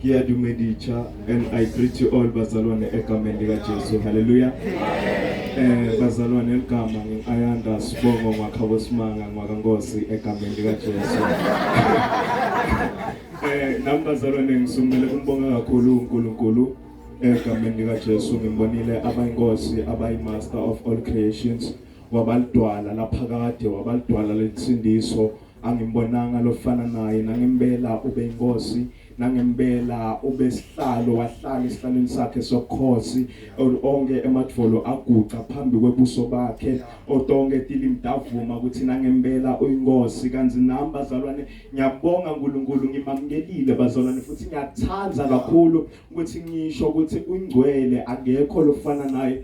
ngiyadumeditsha and i greet you all bazalwane egameni likajesu halleluya eh bazalwane eligama nginqayanda sibongo ngwakhabo simanga ngwakankosi egameni likajesu eh nami bazalwane ngisumele kumbonga kakhulu unkulunkulu egameni likajesu ngimbonile abayinkosi abayimaster of all creations wabalidwala laphakade wabalidwala lensindiso angimbonanga lofana naye nangempela ube inkosi nangempela ube sihlalo wahlala esihlalweni sakhe sokhosi onke emadvolo aguqa phambi kwebuso bakhe otonke tilimdavuma ukuthi nangempela uyinkosi kanzi nami bazalwane ngiyabonga uNkulunkulu ngimamkelile bazalwane futhi ngiyathanda kakhulu ukuthi ngisho ukuthi ungcwele akekho lofana naye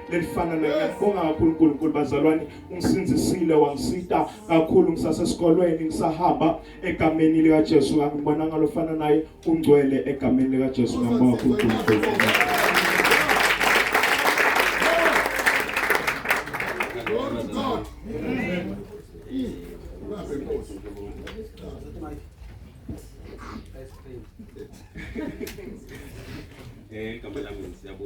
lelifana nangiyakubonga kakhulu uNkulunkulu bazalwane ungisindisile wangisita kakhulu ngisasesikolweni ngisahamba egameni lika Jesu ngibona ngalofana naye ungcwele egameni lika Jesu ngibonga uNkulunkulu Eh, kamu lagi siapa?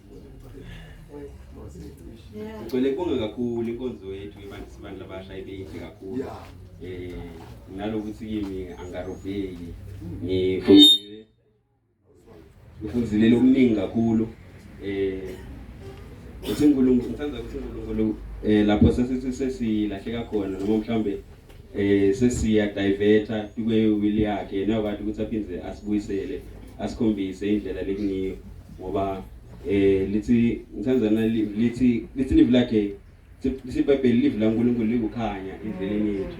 Ngicela kubonga kakhulu inkonzo yethu yebantu sibantu labasha ibeyinhle kakhulu. Eh nalokuthi kimi angarobheki. Ngifundile ngifundile okuningi kakhulu. Eh uthi uNkulunkulu ngithanda ukuthi uNkulunkulu eh lapho sesithi sesilahleka khona noma mhlambe eh sesiya diverta kube will yakhe yena wathi ukuthi aphinde asibuyisele asikhombise indlela lekuniyo ngoba eh lithi ngithandana lithi lithi live lakhe sibhebheli live la uNkulunkulu likukhanya endleleni yethu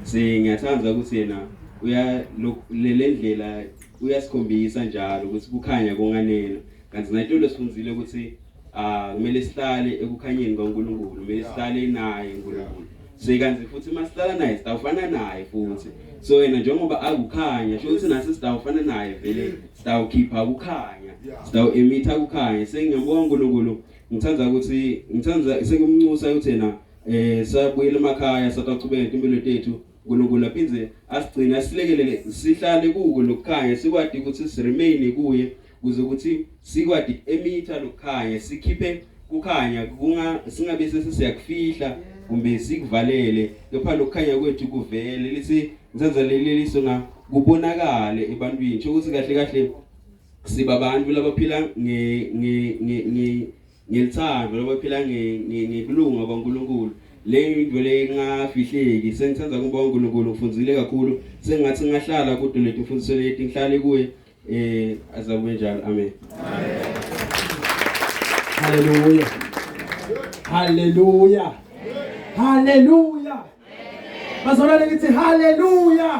se ngiyathanda ukuthi yena uya lele ndlela uyasikhombisa njalo ukuthi kukhanya konganena kanti nathi lesifundzile ukuthi Ah, kumele sihlale ekukhanyeni kwaNkulunkulu, kumele sihlale naye uNkulunkulu. So ikanzi futhi uma sihlala naye sitawufana naye futhi. So yena njengoba akukhanya, sho ukuthi nathi sitawufana naye vele sitawukhipha ukukhanya. Sitawu emitha ukukhanya. Sengiyambonga uNkulunkulu. Ngithanda ukuthi ngithanda sengimncusa ukuthi yena eh sabuyela emakhaya sataqhubeka impilo tethu. uNkulunkulu aphinde asigcine asilekelele sihlale kuko lokukhanya sikwazi ukuthi siremain kuye kuze ukuthi sikwadi emitha lokukhanya sikhiphe kukhanya kunga singabe sesiyakufihla kumbe sikuvalele kepha lokukhanya kwethu kuvele lisi nsenzeleleliso na kubonakale ebantwini nje ukuthi kahle kahle siba abantu labaphila nge nge nge ngelithando labaphila nge ngekulunga kwaNkuluNkulu leyo into le ngafihleki sengithanda kuba uNkulunkulu ngifundile kakhulu sengathi ngahlala kude letimfundiso leti ngihlale kuye Eh azakube njalo. Amen. Amen. Hallelujah. Hallelujah. Hallelujah. Bazalwane ngithi hallelujah.